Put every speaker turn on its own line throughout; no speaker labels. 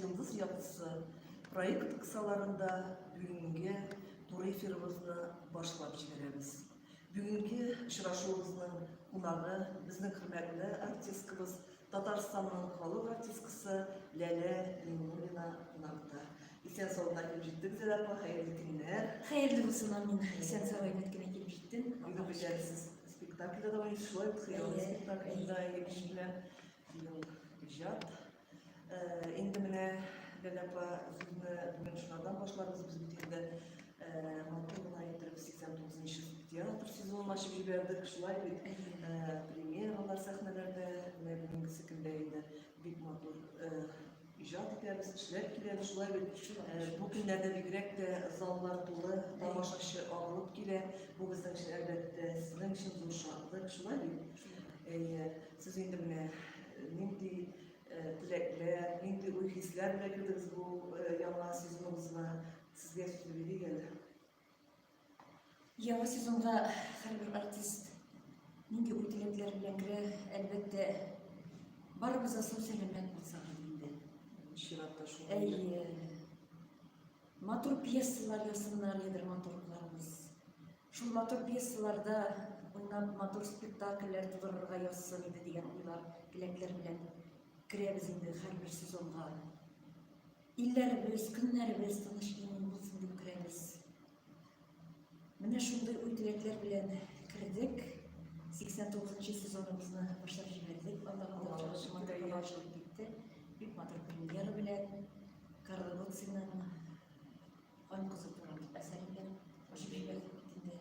Йолдыз яктысы проект кысаларында бүгенге туры эфирыбызны башлап җибәрәбез. Бүгенге очрашуыбызның кунагы безнең хөрмәтле артисткабыз Татарстанның халык артисткасы Ләлә Миңнуллина кунакта. Исән саулыкка килеп җиттек, Зәлә апа, хәерле көннәр. Хәерле булсын, амин.
Исән сау әйбәт кенә килеп җиттең. Бүген беләсез,
спектакльдә дә уйнашып, шулай ук хыялы спектакльдә егеш белән иҗат Инде менә Ләләпа сүзне бүген шулардан башларбыз. Без бит инде матур гына итеп 89 театр сезонын ачып җибәрдек. Шулай бит премьералар сәхнәләрдә менә бүгенгесе көндә инде бик матур иҗат итәбез, кешеләр килә. Шулай бит бу көннәрдә бигрәк тә заллар тулы, тамашачы агылып килә. Бу безнең өчен әлбәттә сезнең өчен зур шатлык. Шулай бит? Әйе. Сез инде менә нинди теләкләр, нинди уй-хисләр белән кердегез бу яңа сезоныбызга? Сезгә сүз бирик әле.
Яңа сезонга һәрбер артист нинди уй-теләкләр белән керә, әлбәттә, барыбыз да сау-сәламәт булсак инде. Чиратта
шул. Әйе.
Матур пьесалар ясыннар ди драматургларыбыз. Шул матур пьесаларда уйнап, матур спектакльләр тудырырга язсын иде дигән уйлар, теләкләр белән керәбез инде һәрбер сезонга. Илләребез, көннәребез тыныч имин булсын дип керәбез. Менә шундый уй теләкләр белән кердек. 89 нчы сезоныбызны башлап җибәрдек. Анда калалыш матур булып китте. Бик матур премьера белән Карл Гуцинның Ан кызы турында әсәр белән башлап җибәрдек бит инде.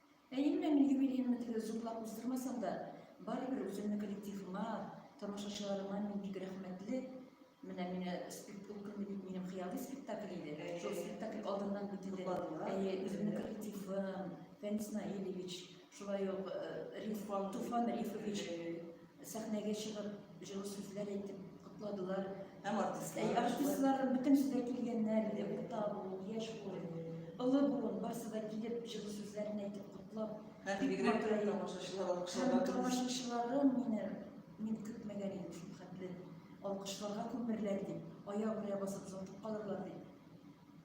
Әйе,
мин юбилейны тигез зурлап уздырмасам да, барыбер үземне коллективыма, тамашачыларыма мин бик рәхмәтле. Менә миңа спектакль ул көнне бит минем хыялый спектакль иде. Шул спектакль алдыннан бит инде әйе, үземнең коллективым, Фәнис Наилевич, шулай ук Риф, Туфан Рифович, сәхнәгә чыгып, җылы сүзләр әйтеп котладылар. Һәм
артистлар. Артистлар бөтенесе
дә килгәннәр иде, урта буын, яшь буын, олы буын, барысы да килеп, җылы сүзләрен әйтеп котлап. Һәм бигрәк тә
тамашачылар алкышларга. Тамашачыларым
мине мин көтмәгән идем шул хәтле. Алкышларга күмерләр дип, аяк белән басып зотып калырлар дип.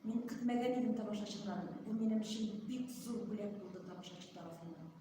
Мин көтмәгән идем тамашачыларны. Бу минем өчен бик зур бүләк булды тамашачы тарафыннан.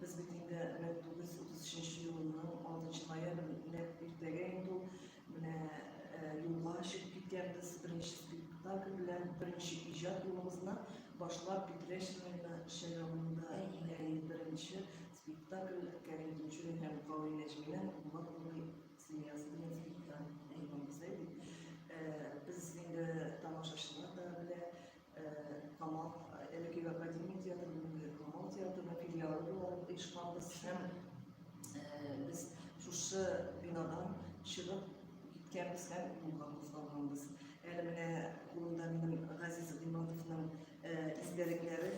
Без бит инде 1933 елының 6 ноябрь, нәкъ иртәгә инде ул менә юлга чыгып киткәнбез, беренче спектакль белән беренче иҗат юлыбызны башлап Питрәч районы Шәләвында беренче спектакль Кәрим Тинчурин һәм Кавил Нәҗминең Булат Нури семьясы дигән спектакль. Без инде тамашачылар да белә, Камал әлеге академия театрының Камал театрының филиалы буларак оешканбыз һәм без шушы бинадан чыгып киткәнбез һәм юлга кузгалганбыз. Әле менә кулымда минем Газиз Гыйматовның истәлекләре,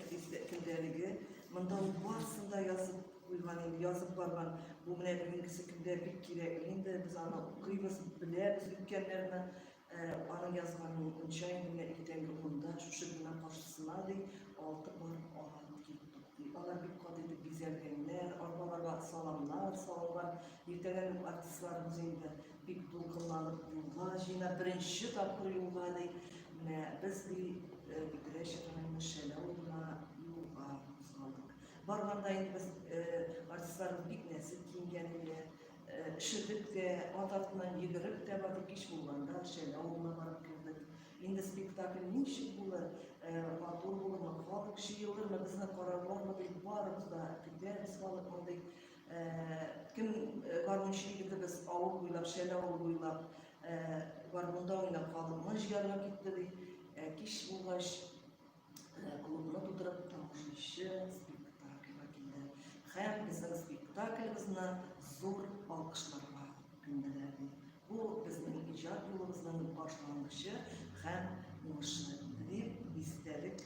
көндәлеге. Монда ул барысын да язып куйган инде, язып барган. Бу менә бүгенгесе көндә бик кирәк. Инде без аны укыйбыз, беләбез үткәннәрне. Аның язганын унча иңгә иртәнге унда шушы бина каршысына ди, алты пар агат киттек ди. Алар бик кат итеп бизәлгәннәр, арбаларга саламнар салынган. Иртәгә үк артистларыбыз инде бик дулкынланып юлга җыена, беренче тапкыр юлга ди. Менә без ди Питрәч районы Шәле авылына юлга кузгалдык. Барганда инде без артистларыбыз бик нәзек киенгән иде. Шөбеткә, ат артыннан йөгереп тә барды, кич булганда Шәле авылына барып кердек. Инде спектакль ничек булыр, матур булырмы, халык җыелырмы, безне карарлармы дип барыбыз да көтәбез халык мондый. Кем гармунчы егетебез авыл буйлап, Шәле авылы буйлап гармунда уйнап халыкны җыярга китте ди. Кич булгач, Кулымны тутырып тамашачы спектакльга килде. Һәм безнең спектакльбызны зур алкышларга күмделәр. Бу безнең иҗат юлыбызның башлангычы һәм уңышы дип истәлек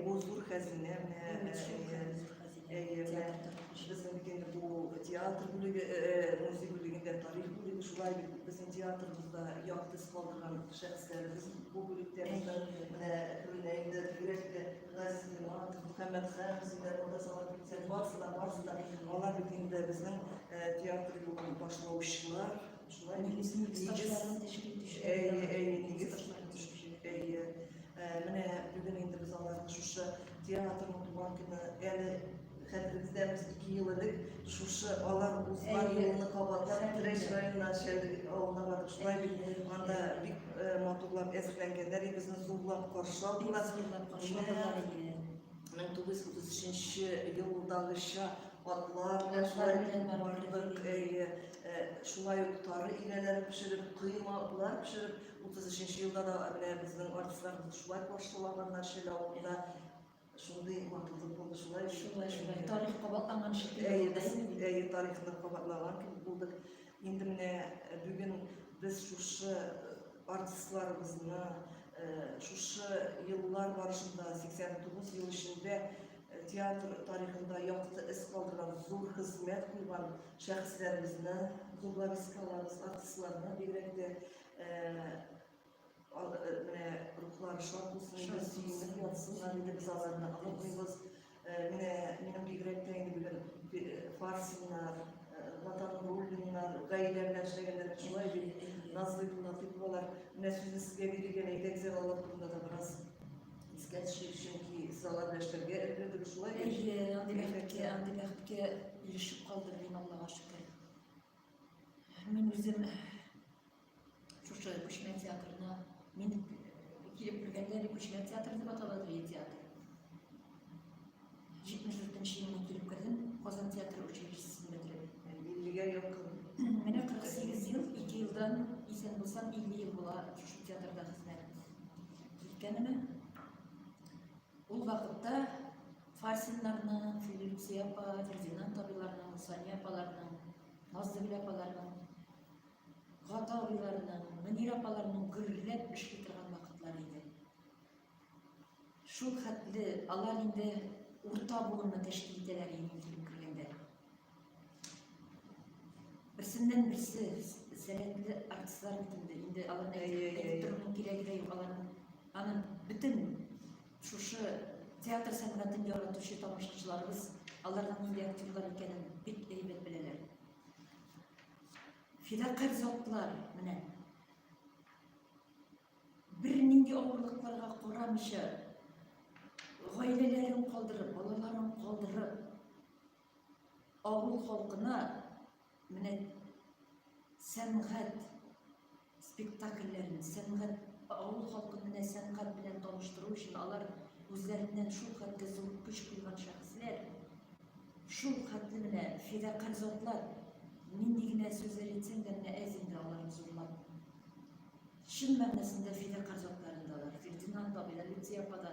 бу зур хәзинә безнең бу театр бүлеге музей бүлегендә тарих бүлеге шулай бит безнең театрыбызда якты сквалган Шәхесләребез бу бүлектә менә түренә инде бигрәк тә Газиз Иманов, Мөхәммәд Хан, Зиндар Муртазалар китсәк, барысы да, барысы да, алар бит инде безнең театр юлын башлаучылар, шулай нигез, нигез,
әйе, әйе, нигез, әйе,
менә бүген инде без аларны шушы театрның туган көне әле Хәтерегездә без ике ел элек шушы алар узган юлны кабатлап Треш районына Шәлдек авылына бардык. Шулай бит анда бик э, матурлап әзерләнгәннәр иде, безне зурлап каршы алдылар. Менә 1933 елдагыча атлар белән шулай бардык. Әйе, э, шулай ук тары ияләре пешереп, коймалар пешереп, 33 елда да менә безнең артистларыбыз шулай каршылаганнар Шәле авылында. Шундый матурлык булды, шулай шулай шулай тарих
кабатланган шикелле. Әйе, без әйе тарихны
кабатлаган кебек булдык. Инде менә э, бүген без шушы э, артистларыбызны э, шушы еллар барышында 89 ел эчендә театр тарихында якты эз калдырган зур хезмәт куйган шәхесләребезне, журналисткаларыбыз, артистларны бигрәк тә Менә рухлары шат булсын, инде сөенеп ятсыннар, инде без аларны онытмыйбыз. Менә минем бигрәк тә инде бүген Фарсиннар, Ватан Руллиннар, гаилә белән эшләгәннәр, шулай бит, Назлы Латыповалар. Менә сүзне сезгә бирелгән әйдәк зиялылар турында да бераз искә төшик, чөнки сез алар белән эшләргә өлгердегез, шулай бит? Әйе, андый бәхеткә, андый бәхеткә
ирешеп калдым мин, Аллага шөкер. Мин үзем Шушы күчмә театрына мин килеп кергәндә әле күчмә театр дип атала дрей театр. 74 елына килеп кердем, Казан театры училищесен бетереп. 50-гә якын.
Менә 48
ел, 2 елдан исән булсам 50 ел була шушы театрда хезмәт иткәнемә. Ул вакытта Фарсиннарның, Филипп Сепа, Фердинанд абыйларның, Сания апаларның, Назлы апаларның Гата абыйларының, Мөнир апаларының гөрләп эшли торган вакытлары иде. Шул хәтле алар инде урта буынны тәшкил итәләр иде килеп кергәндә. Берсеннән берсе сәләтле артистлар бит инде. Инде аларны әйтеп торуның кирәге дә юк. Аларның аны бөтен шушы театр сәнгатен яратучы тамашачыларыбыз аларның нинди актерлар икәнен бик әйбәт беләләр Фидакарь затлар, менә. Бер нинди авырлыкларга карамыйча, гаиләләрен калдырып, балаларын калдырып, авыл халкына менә сәнгать спектакльләрен, сәнгать, авыл халкын менә сәнгать белән таныштыру өчен алар үзләреннән шул хәтле зур көч куйган шәхесләр, шул хәтле менә фидакарь затлар, нинди генә сүзләр әйтсәң дә менә әз инде аларны зурлап. Чын мәгънәсендә фидакарь затлар инде алар. Фердинанд абый да, Люция апа да,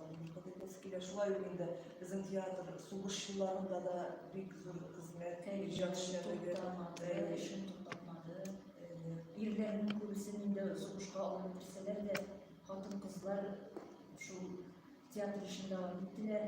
Кадерле Сәкилә, шулай ук инде безнең театр сугыш елларында да бик зур хезмәт, иҗат эшләре эшен
туктатмады. Ирләрнең күбесен инде сугышка алып китсәләр дә, хатын-кызлар шул театр эшендә дәвам иттеләр.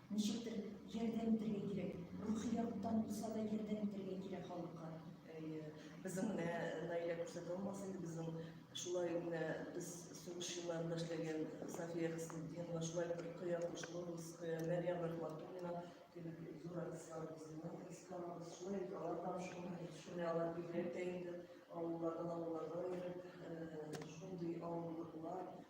Ничектер ярдәм итәргә кирәк, рухи яктан булса да ярдәм итәргә кирәк халыкка. Әйе, безнең
менә Наилә күрсәтә алмас инде безнең шулай ук менә без сугыш елларында эшләгән Сафия Хисметдинова, шулай ук Рөкыя Кушловская, Мәрьям Рахматуллина кебек зур артистларыбыз булган, Исканабыз, шулай ук алар да шуны алар бигрәк тә инде авыллардан авылларга йөреп, шундый авырлыклар,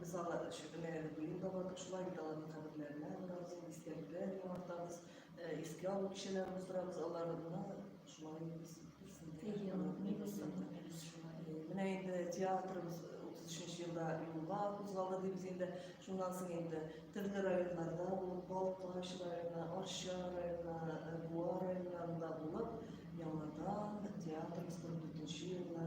Без аны шөбенәгәдә бүген дә бардык, шулай бит аларның каберләренә барабыз, истәлекләр яңартабыз, искә алу кичәләрен уздырабыз, аларны шулай Менә инде театрыбыз 33 елда юлга кузгалды дибез инде. Шуннан соң инде төрле районнарда булып, Балкаш районы, Арча районы, Буа районнарында булып, яңадан театрыбыз 44 елына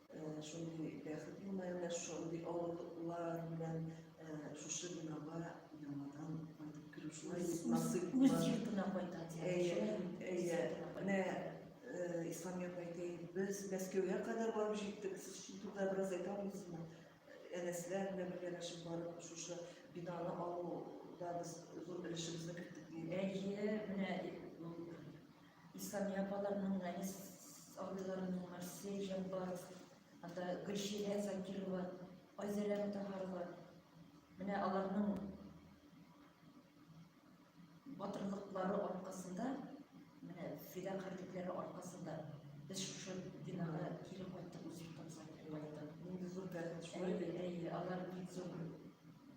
Шундый бәхет елмаена, шундый авырлыклар белән шушы бинага яңадан кайтып керү шулай насыйп. Үз йортына
кайта дигән. Әйе,
менә Ислам әйтә, без Мәскәүгә кадәр барып җиттек. Сез шул турыда бераз әйтә аласызмы? Әнәсләр белән бергәләшеп барып шушы бинаны алуда без зур өлешебезне керттек. Әйе, менә
Исламия апаларның, Нәнис абыйларымның, Марсель Җәббаров, анда Гөлчирә Закирова, Айзәрә Мутаһарова. Менә аларның батырлыклары аркасында, менә фидакарьлекләре аркасында без шушы бинага кире кайттык, үз йортыбызга кире кайттык. Нинди зур бәхет шулай бит. Әйе, алар бик зур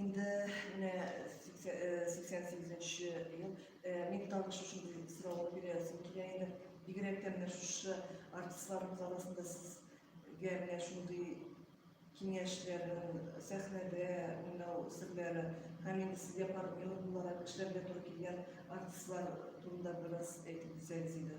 Инде менә 88-нче ел. Мин тагын шушы сорауны бирәсем килә инде. Бигрәк тә менә шушы артистларыбыз арасында сезгә менә шундый киңәшләрен, сәхнәдә уйнау серләре һәм инде сезгә партнер буларак эшләргә туры килгән артистлар турында бераз әйтеп үтсәгез иде.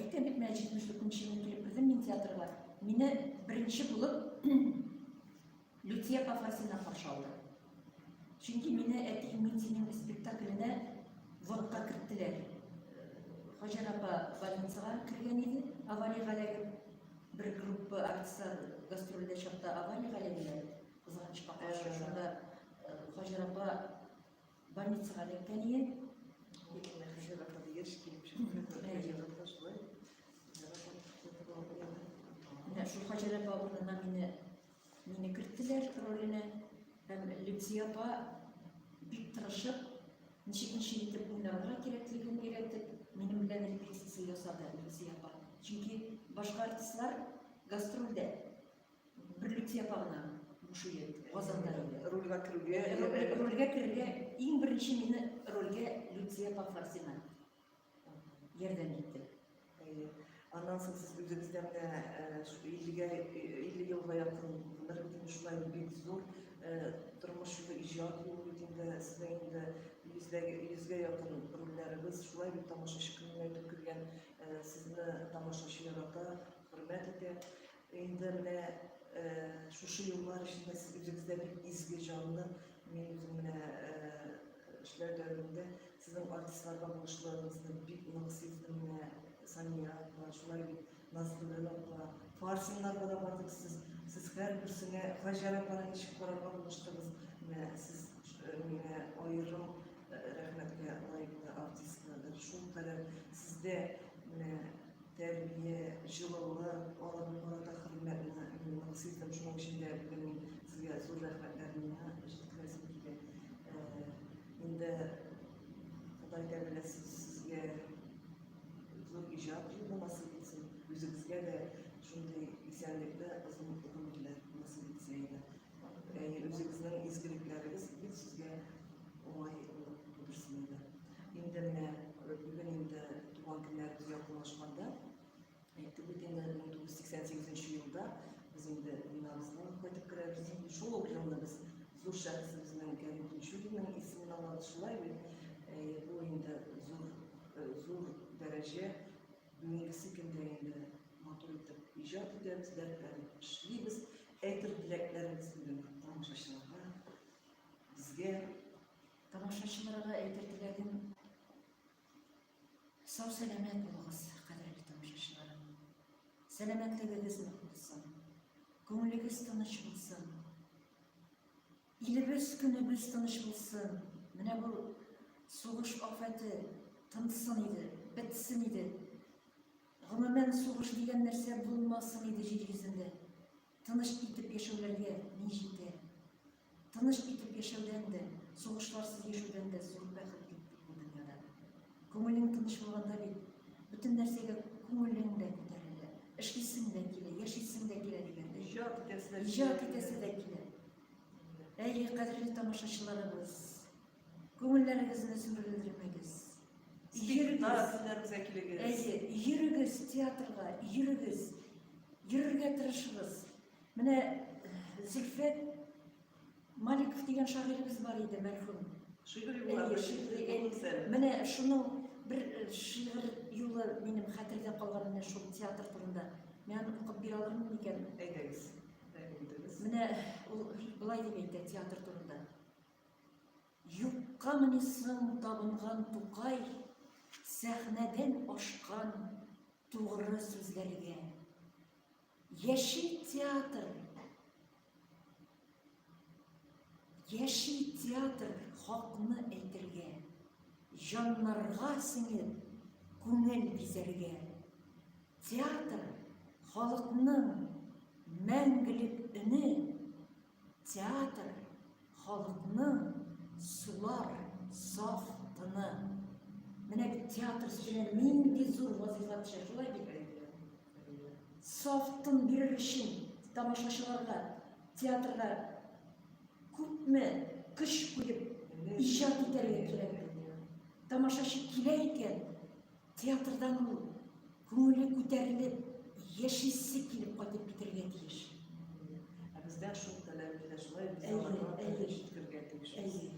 Әйтәм бит менә 74 елны килеп кердем мин театрга. Мине беренче булып Лютия Пафасина каршы алды. Чөнки мине әти Минзинең спектакленә вакытка керттеләр. Хаҗар апа больницага кергән иде, авария галәге бер группа артистлар гастрольдә чакта авария галәгеләр кызганычка каршы шунда Хаҗар апа Больницага эләккән иде. Икенә хәзер вакыт еш килеп чыкты. Әйе, шулай. Менә шул Хаҗәләп бабынына мине мине керттеләр роленә. Һәм Лепсия апа бик тырышып, ничек ничек итеп уйнарга кирәклеген өйрәтеп, минем белән репетиция ясады Лепсия апа. Чөнки башка артистлар гастрольдә Берлек япа гына буш иде, Казанда иде. Рольгә керүгә,
рольгә керергә
иң беренче мине рольгә Люция Пафарсина ярдәм итте.
Аннан соң сез үзегездә менә 50-гә 50 елга якын бер шулай бик зур тормыш юлы иҗат юлы бит инде сезнең инде йөзләгә йөзгә якын рольләрегез шулай бит тамашачы күңеленә үтеп кергән сезне тамашачы ярата хөрмәт итә Инде менә шушы еллар эчендә сез үзегездә бик изге җанлы, мин үзем менә эшләр дәвамында сезнең артистларга булышлыгыгызны бик нык сиздем менә Сания апа, шулай бит Назгүләл апа, Фарсиннарга да бардык сез, сез һәрберсенә Хаҗәр апаны ничек карарга булыштыгыз, менә сез миңа аерым рәхмәткә лаеклы артистка, шул кадәр сездә менә Тәрбия, җылылык, аларга карата хөрмәтне мин хисем, шуның өчен дә бүген сезгә зур рәхмәтләремне җиткерәсем килә. Инде Ходай Тәгалә сезгә зур иҗат юлы насыйп итсен, үзегезгә дә шундый исәнлекне, озын гомерләр насыйп итсен иде. Әйе, үзегезнең изгелекләрегез бит сезгә уңай булып күрсен иде. Инде менә бүген инде туган көннәребез якынлашканда, әйтеп үтим, 1988 елда без инде бинабызга кайтып керәбез. Шул ук елны без зур шәхесебезнең Кәрим Тинчуринның исемен алабыз. Шулай бит, бу инде зур зур дәрәҗә бүгенгесе көндә инде матур итеп иҗат итәбез, дәртләнеп эшлибез. Әйтер теләкләрегез белән тамашачыларга, безгә,
тамашачыларга әйтер теләгем, сау-сәламәт булыгыз, кадерле тамашачыларым. Сәламәтлегегез нык булсын, күңелегез тыныч булсын, илебез, көнебез тыныч булсын. Менә бу сугыш афәте тынсын иде, бетсен иде. Гомумән, сугыш дигән нәрсә булмасын иде җир йөзендә. Тыныч итеп яшәүләргә ни җитә? Тыныч итеп яшәүдән дә, сугышларсыз яшәүдән дә зур бәхет юк бит бу дөньяда. Күңелең тыныч булганда бит, бөтен нәрсәгә күңелең дә күтәрелә, эшлисең дә килә, яшисең дә килә дигәндәй. Иҗат итәсе дә килә. Әйе, кадерле тамашачыларыбыз! Күңелләрегезне сүрелдермәгез. Спектакльләргә килегез. Әйе, йөрегез театрга, йөрегез. Йөрергә тырышыгыз. Менә э, Зөлфәт Маликов дигән шагыйребез бар иде, мәрхүм. Шигырь юлы. Менә шуның бер э, шигырь юлы минем хәтердә калган менә шул театр турында. Мин аны укып бирә алырмын микән? Әйдәгез. Менә ул былай дип әйтә театр турында. Юккамыни соң табынган Тукай сәхнәдән ашкан тугры сүзләргә? Яши театр! Яши театр хакны әйтергә, җаннарга сеңеп, күңел бизәргә. Театр, халыкның мәңгелек өне! Театр, халыкның сулар, саф тыны. Менә бит театр сүзенә нинди зур вазифа төшә, шулай бит. Саф тын бирер өчен тамашачыларга, театрга күпме көч куеп, иҗат итәргә кирәк. Тамашачы килә икән, Театрдан ул күңеле күтәрелеп, яшисе килеп кайтып китергә тиеш. Ә
бездә шул таләп ителә, шулай без аларга җиткергә тиеш. Әйе.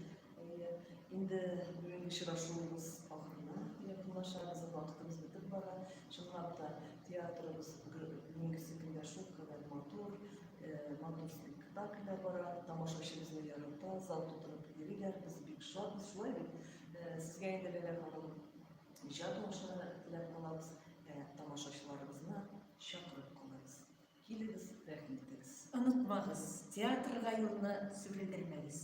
Инде бүгенге очрашуыбыз ахырына якынлашабыз, вакытыбыз бетеп бара. Чынлап та театрыбыз бүгенгесе көндә шул кадәр матур, матур спектакльләр бара, тамашачыбызны ярата, зал тутырып йөриләр, без бик шатбыз, шулай бит. Сезгә инде Ләлә ханым Иҗат уңышлары теләп калабыз, ә тамашачыларыбызны чакырып калабыз. Килегез,
рәхим итегез. Онытмагыз,
театрга
юлны сүгелдермәгез.